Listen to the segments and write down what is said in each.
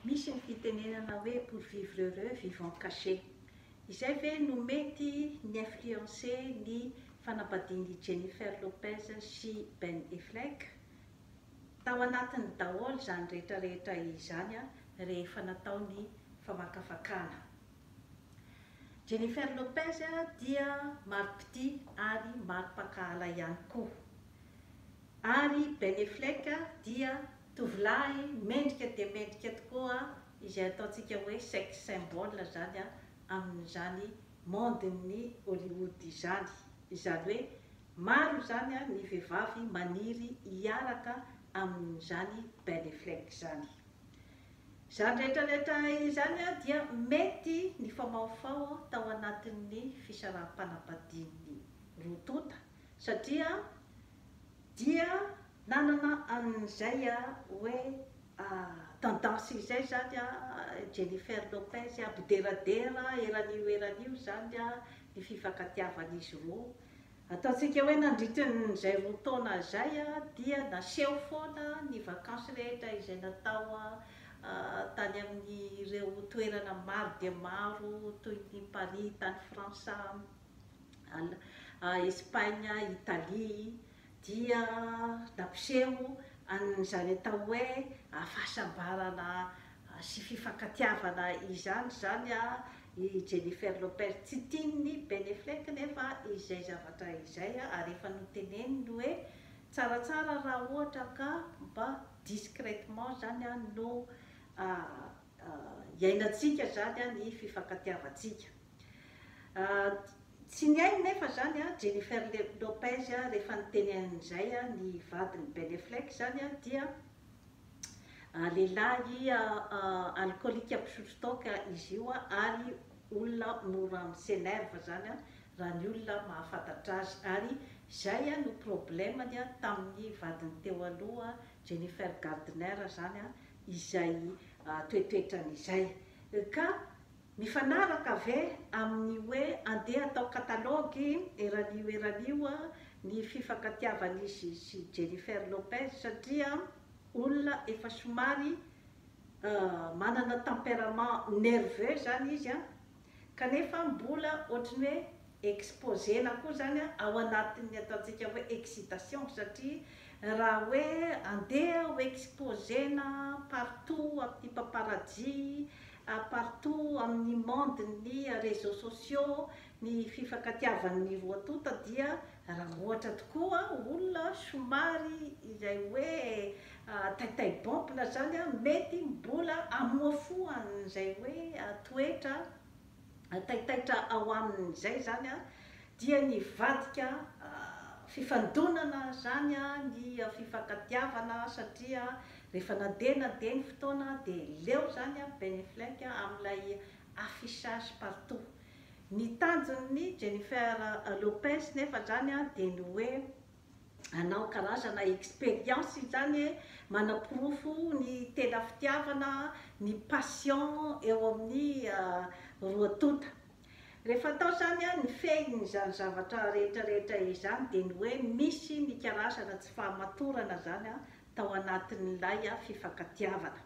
Misy ny fitenenana hoe pour vivre heureux vivons caché. Izay ve no mety ni-influencer ny fanambadian'i Jennifer Lopez sy Ben Effleck? Tao anatiny daholo izany rehetra rehetra izany rehefa natao ny famakafakana. Jennifer Lopez dia mari-pitia ary mari-pankahala ihany koa. Ary Ben Effleck dia Tovolahy mendrika dia mendrika tokoa izay ataontsika hoe sex symbol izany amin'izany monde-n'ny Hollywood izany. Izany hoe maro izany ny vehivavy maniry hiaraka amin'izany Ben Affleck izany. Izany rehetrarehetra izany dia mety nifaomaofao tao anatin'ny fisaraham-panambadian'ny roa tonta satria dia Nanana an'izay a hoe a tendance izay zany a Jennifer Lopez a mpideradera eran'io eran'io zany a ny fifankatiavan'izy roa. Ataontsika hoe nandritrin'izay roa taona zay a dia naseho foana ny vakansy rehetra izay natao a tany amin'ireo toerana maro dia maro toy ny Paris tany Frantsa, Al a Espagne, Italie, dia nampiseho an'izany atao hoe hafasambarana sy fifankatiavana izany izany i Jennifer Lopez. Tsy tian'i Ben Affleck anefa izay zavatra izay ary efa noteneniny hoe tsaratsara raha ohatra ka mba discrètement izany no iainantsika izany ny fifankatiavantsika. Tsy ny ainy nefa izany, Jennifer Lopez, rehefa niteny an'izay ny vadin'i Ben Affleck izany dia lehilahy alkolika mpisotro toaka izy io ary olona mora mi-s'enerve izany raha ny olona mahafantatra azy ary izay no problème-ny tamin'ny vadiny teo aloha Jennifer Gardner izany izay toetoetrany izay ka Mifanaraka ve amin'ny hoe andeha atao katalogy eran'io eran'io ny fifankatiavan'izy sy Jennifer Lopez satria olona efa somary manana tempérament nerveux zany izy an, kanefa mbola ohatry ny hoe exposena koa izany ao anatin'ny ataontsika hoe excitation satria raha hoe andeha ho exposena partout amin'ny paparazzi, partout amin'ny monde-n'ny réseaux sociaux ny fifankatiavan'ny roa tonta dia raha ohatra tokoa olona somary izay hoe taitaibômpina izany mety mbola hamoafo an'izay hoe toetra taitaitra ao aminy izay izany dia nivadika fifandonana izany ny fifankatiavana satria rehefa nandeha nandeha ny fotoana dia leo izany Ben Affleck amin'ilay affichage partout. Ny tanjon'ny Jennifer Lopez nefa izany dia ny hoe Anao karazana expérience izany e, manaporofo ny tena fitiavana, ny passion eo amin'ny roa tonta. Rehefa atao izany an, ny fehin'izany zavatra rehetra rehetra izany dia ny hoe misy ny karazana tsy fahamatorana izany an tao anatin'ilay fifankatiavana.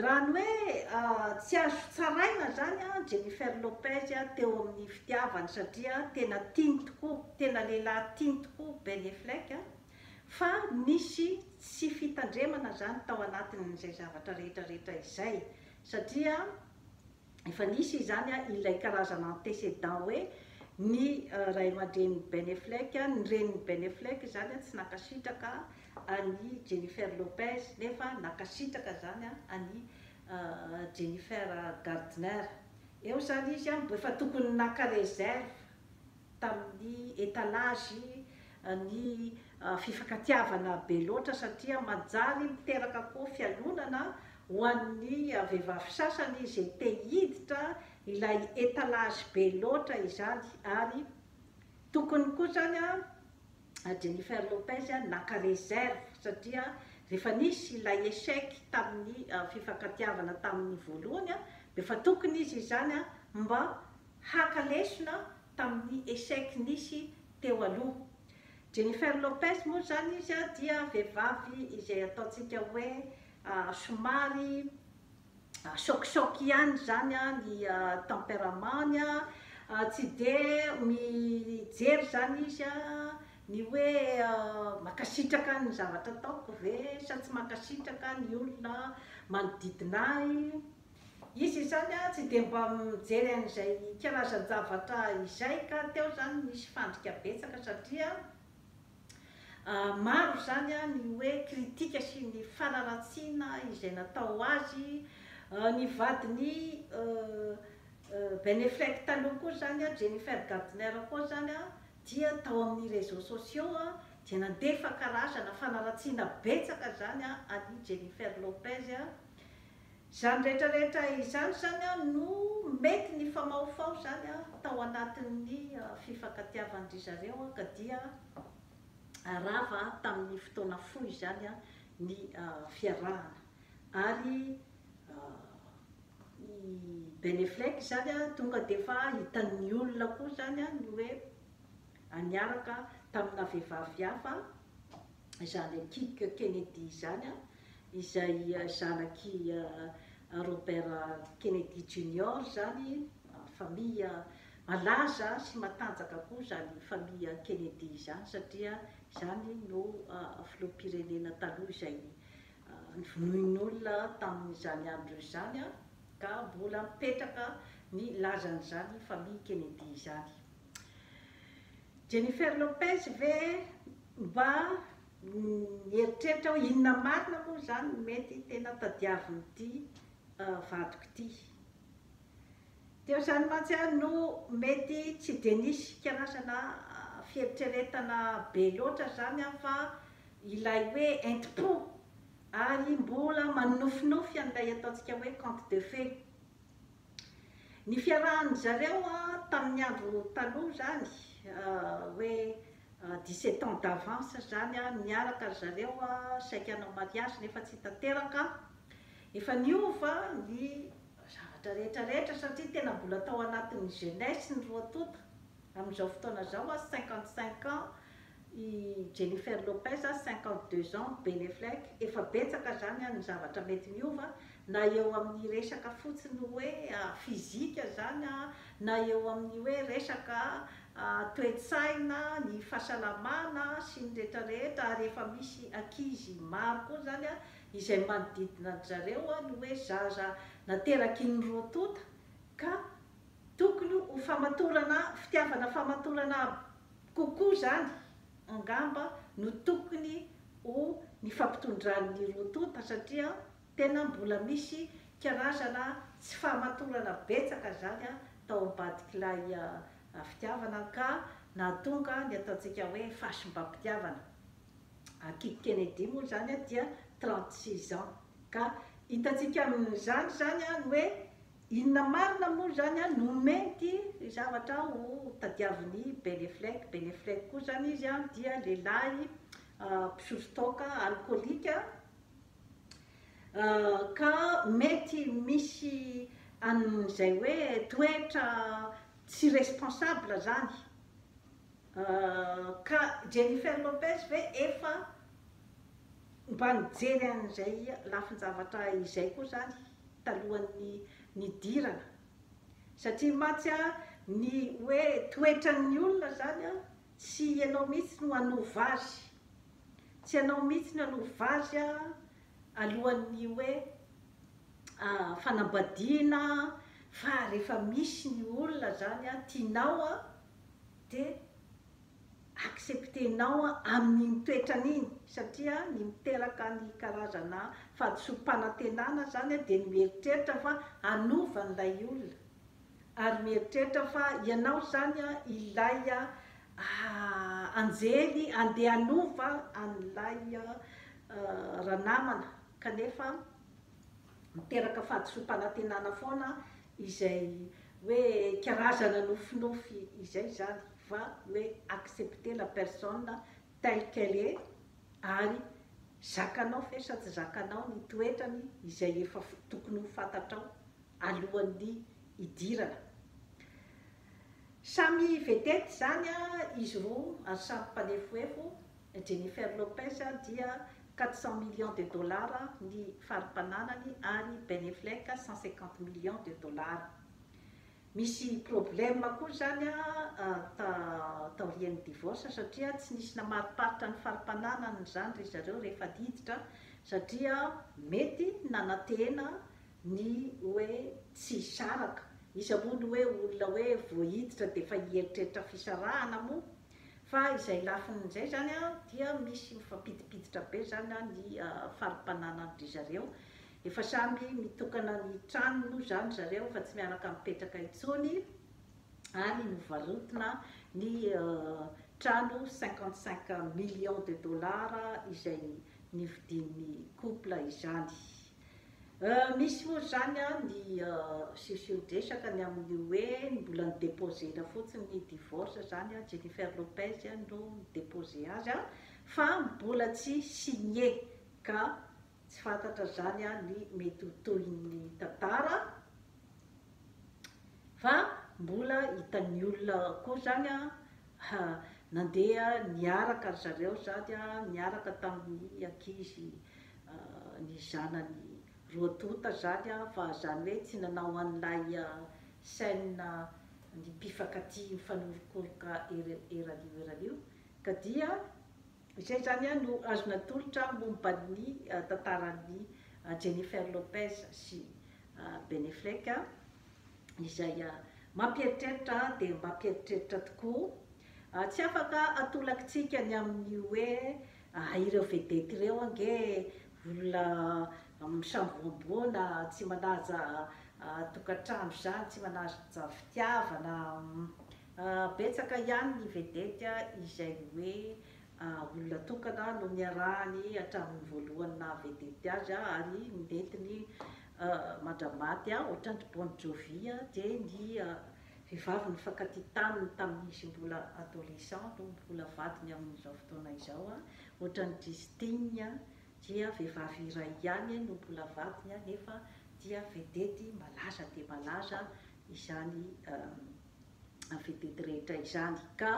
Raha ny hoe tsy azo tsaraina zany Jennifer Lopez teo amin'ny fitiavany satria tena tiany tokoa, tena lehilahy tiany tokoa Ben Effleck fa nisy tsy fitandremana zany tao anatin'izay zavatra rehetra rehetra izay satria efa nisy izany an, ilay karazana antécédent hoe ny ray aman-drenin'i Ben Effleck, ny renin'i Ben Effleck izany tsy nankasitraka an'i Jennifer Lopez nefa nankasitraka izany an'i Jennifer Gardner. Eo izany izy an, mbo efa tokony naka réserve. tamin'ny étalage ny fifankatiavana be loatra satria manjary miteraka koa fialonana ho an'ny vehivavy sasany izay te hiditra ilay étalage be loatra izany ary tokony koa izany Jennifer Lopez naka réserve satria rehefa nisy ilay échec tamin'ny fifankatiavana tamin'ny voalohany dia efa tokony izy izany mba haka lesona tamin'ny echec nisy teo aloha. Jennifer Lopez moa izany izy dia vehivavy izay ataontsika hoe somary sôkisôky ihany izany ny tempérament-ny, tsy dia mijery izany izy ny hoe mankasitraka ny zavatra ataoko ve sa tsy mankasitraka ny olona manodidina ahy. Izy izany tsy dia mba mijery an'izay karazan-javatra izay ka teo izany misy fandrika betsaka satria maro izany ny hoe kritika sy ny fanaratsiana izay natao azy. Ny vadin'i Ben Effleck taloha koa izany, Jennifer Gardner koa izany dia tao amin'ny réseaux sociaux dia nandefa karazana fanaratsiana betsaka izany an'i Jennifer Lopez Izany rehetra rehetra izany izany an no mety nifamahofaho izany an tao anatin'ny fifankatiavan-dry zareo an ka dia rava tamin'ny fotoana fohy izany an ny fiarahana ary i Ben Effleck izany an tonga dia efa hitan'ny olona koa izany an ny hoe niaraka tamina vehivavy hafa izany Akick Kennedy izany, izay zanak'i Robert Kennedy Junior izany, famille malaza sy matanjaka koa izany famille Kennedy izany satria izany no filoham-pirenena taloha izay novonoin'olona tamin'izany andro izany ka mbola mipetraka ny lazan'izany famille Kennedy izany. Jennifer Lopez ve? Mba mieritreritra aho inona marina moa izany no mety tena tadiavin'ity vadiko ity. Teo izany mantsy aho no mety tsy dia nisy karazana fieritreretana be loatra izany aho fa ilay hoe entim-po ary mbola manonofinofy an'ilay ataontsika hoe conte de fées. Ny fiarahan'ny zareo tamin'ny andro taloha izany hoe dix sept ans d'avance izany niaraka ry zareo saiky hanao mariage nefa tsy tanteraka, efa niova ny zavatra rehetra rehetra satria tena mbola tao anatin'ny jeunesse ny roa tonta, amin'izao fotoana izao cinquante cinq ans I Jennifer Lopez, cinquante deux ans, Ben Effleck, efa betsaka izany an ny zavatra mety miova, na eo amin ny resaka fotsiny hoe fizika izany an, na eo amin ny hoe resaka toe-tsaina, ny fahasalamana sy ny rehetra rehetra, ary efa misy ankizy maro koa izany an, izay manodidina an-dry zareo an ny hoe zaza nateraky ny roa tonta, ka tokony ho famatorana fitiavana famatorana Kokoa izany, angamba, no tokony ho nifampitondran'ny roa tonta satria tena mbola misy karazana tsy fahamatorana betsaka izany tao ambadik'ilay fitiavana ka nahatonga ny ataontsika hoe fahasimbam-pitiavana. Ankizy Kennedy moa izany dia trente six ans ka hitantsika amin'izany izany ny hoe Inona marina moa izany an, nomeny ity zavatra ho tadiavin'i Ben Effleck, Ben Effleck koa izany izy an dia lehilahy mpisotro toaka, alkolika, ka mety misy an'izay hoe toetra tsy responsable izany, ka Jennifer Lopez ve efa mba nijery an'izay lafin-javatra izay koa izany? talohan'ny nidirana satria mantsy an ny hoe toetran'ny olona izany an tsy ianao mihitsy no hanova azy, tsy ianao mihitsy no hanova azy an alohan'ny hoe fanambadiana an fa rehefa misy ny olona izany an tianao an dia accepter-nao amin'iny toetrany iny satria ny miteraka ny karazana fahadisoam-panantenana izany dia ny mieritreritra fa hanova an'ilay olona ary mieritreritra fa ianao izany ilay anjely handeha hanova an'ilay ranamana kanefa miteraka fahadisoam-panantenana foana izay hoe karazana nofinofy izay izany fa hoe accepter la personne telle qu'elle est ary zakanao ve sa tsy zakanao ny toetrany izay efa tokony ho fantatrao alohan'ny hidirana. Samy vedette izany izy roa ary samy mpanefohefo Jennifer Lopez dia quatre cents millions de dollars ny fari-pananany ary Ben Effleck cent cinquante millions de dollars. Misy problème koa izany taorian'ny divorce satria tsy nisy namariparitra ny fari-pananany izany ry zareo rehefa diditra satria mety nanantena ny hoe tsy hisaraka. Iza moa no hoe olona hoe vao hiditra dia efa hieritreritra fisarahana moa? Fa izay lafiny izay izany dia misy mifampidipiditra be izany ny fari-pananandry zareo. Efa samy mitokana ny tranony moa izany zareo fa tsy miaraka mipetraka intsony ary novarotina ny trano cinquante cinq millions de dollars izay nividian'ny couple izany. Misy moa izany an ny siosiondresaka ny amin'ny hoe ny mbola ny deposer-na fotsiny ny divorce izany an, Jennifer Lopez no ni deposer azy an, fa mbola tsy signe ka tsy fantatra izany an ny mety ho tohin'ny tantara fa mbola hitan'ny olona koa izany an nandeha niaraka ry zareo izany an niaraka tamin'ny ankizy ny zanany roa tonta zany an fa zany hoe tsy nanao an'ilay scène ny mpifankatia mifanoronkoroka eran'io eran'io ka dia izay zany an no azo natolotra momba ny tantaran'i Jennifer Lopez sy Ben Effleck an, izay mampieritreritra dia mampieritreritra tokoa, tsy afaka atolakitsika ny amin'ny hoe Aah ireo vedette ireo ange olona misamboamboana, tsy manaja tokantrano izany, tsy manaja fitiavana, betsaka ihany ny vedette izay hoe olona tokana no niarahany hatramin'ny voalohany naha vedette azy ary ny nentiny mandra-maty ohatran'ny ry Bon Jovi dia ny Vehivavy nifankatia taminy tamin'izy mbola adolescent no mbola vadiny amin'izao fotoana izao. Ohatran'i Justine dia vehivavy iray ihany no mbola vadiny nefa dia vedety malaza dia malaza izany vedety rehetra izany. Ka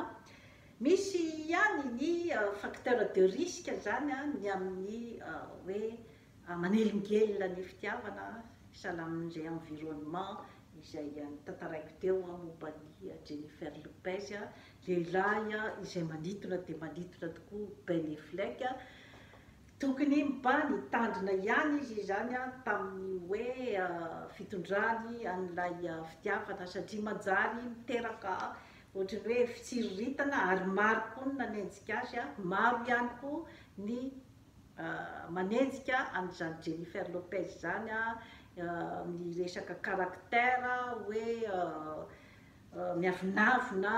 misy ihany ny facteur de risque izany ny amin'ny hoe Manelingelina ny fitiavana salamin' izay environnement izay notantaraiko teo momba an' i Jennifer Lopez, lehilahy izay manitona dia manitona tokoa Ben Effleck. Tokony mba nitandrina ihany izy izany tamin' ny hoe fitondrany an' ilay fitiavana satria manjary miteraka ohatry ny hoe fitsiriritana ary maro koa ny nanenjika azy, maro ihany koa ny manenjika an'izany Jennifer Lopez izany amin'ny resaka caractère hoe miavonavona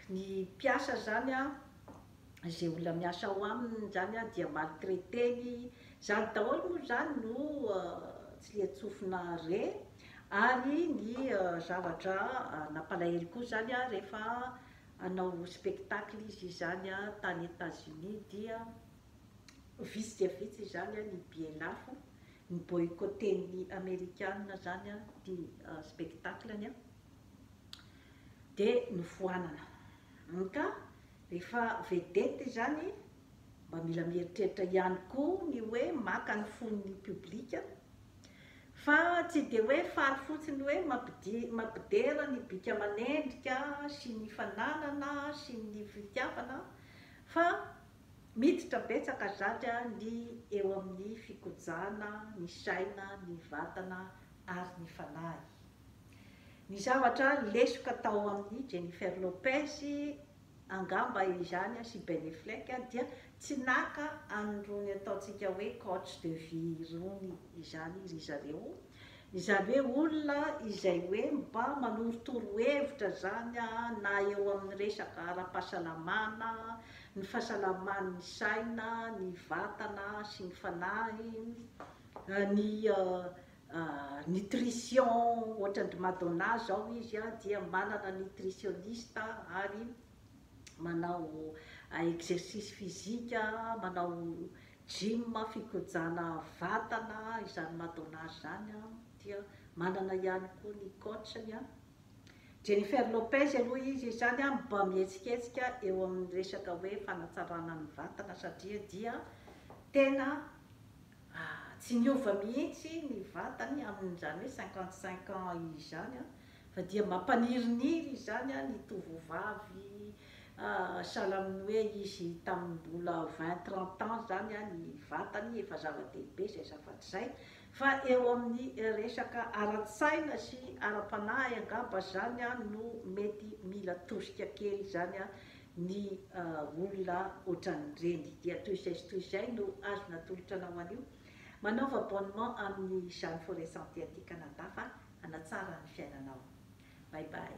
ny mpiasa izany izay olona miasa ao aminy izany dia maltraiter-ny izany daholo moa izany no tsilian-tsofina re ary ny zavatra nampalahelo koa izany rehefa hanao spectacle izy izany tany Etats-Unis dia vitsy dia vitsy izany ny billet lafo, ny boycotter-n'ny Amerikana izany ity spectacle-ny dia nofoanana. Ka rehefa vedette izany mba mila mieritreritra ihany koa ny hoe maka ny fon'ny public. Fa tsy dia hoe faly fotsiny hoe mampidera ny bika aman'endrika sy ny fananana sy ny fitiavana fa miditra betsaka zatra ny eo amin'ny fikojana ny saina, ny vatana ary ny fanahy. Ny zavatra lesoka tao amin'ny Jennifer Lopez, Angamba izany sy Ben Effleck dia tsy naka an'irony ataontsika hoe coach de vie irony izany ry zareo, izany hoe olona izay hoe mba manoro torohevitra izany na eo amin'ny resaka ara-pahasalamana, ny fahasalaman'ny saina, ny vatana sy ny fanahy, ny Nutrition ohatran-dry Madonna zao izy a, dia manana nutritioniste ary manao exercice physique, manao gym, fikojana vatana, izany Madonna izany a, dia manana ihany koa ny coach-ny a. Jennifer Lopez aloha izy izany a mba mihetsiketsika eo amin'ny resaka hoe fanatsarana ny vatana satria dia tena. Ah, tsy niova mihitsy ny vatany amin'izany hoe cinquante cinq ans izany an, fa dia mampaniriniry izany an ny tovovavy ah, sahala amin'ny hoe izy tamin'ny mbola vingt trente ans izany an ny vatany efa zava-dehibe izay zava-tsaina, fa eo amin'ny resaka ara-tsaina sy ara-panahy angamba izany an no mety mila tosika kely izany an Ny olona ohatran'ireny dia toy izay sy toy izay no azo natolotra anao anio. Manaova abonnement amin'ny Jeanne Forest Santé aty Canada fa hanatsara ny fiainanao. Bye bye.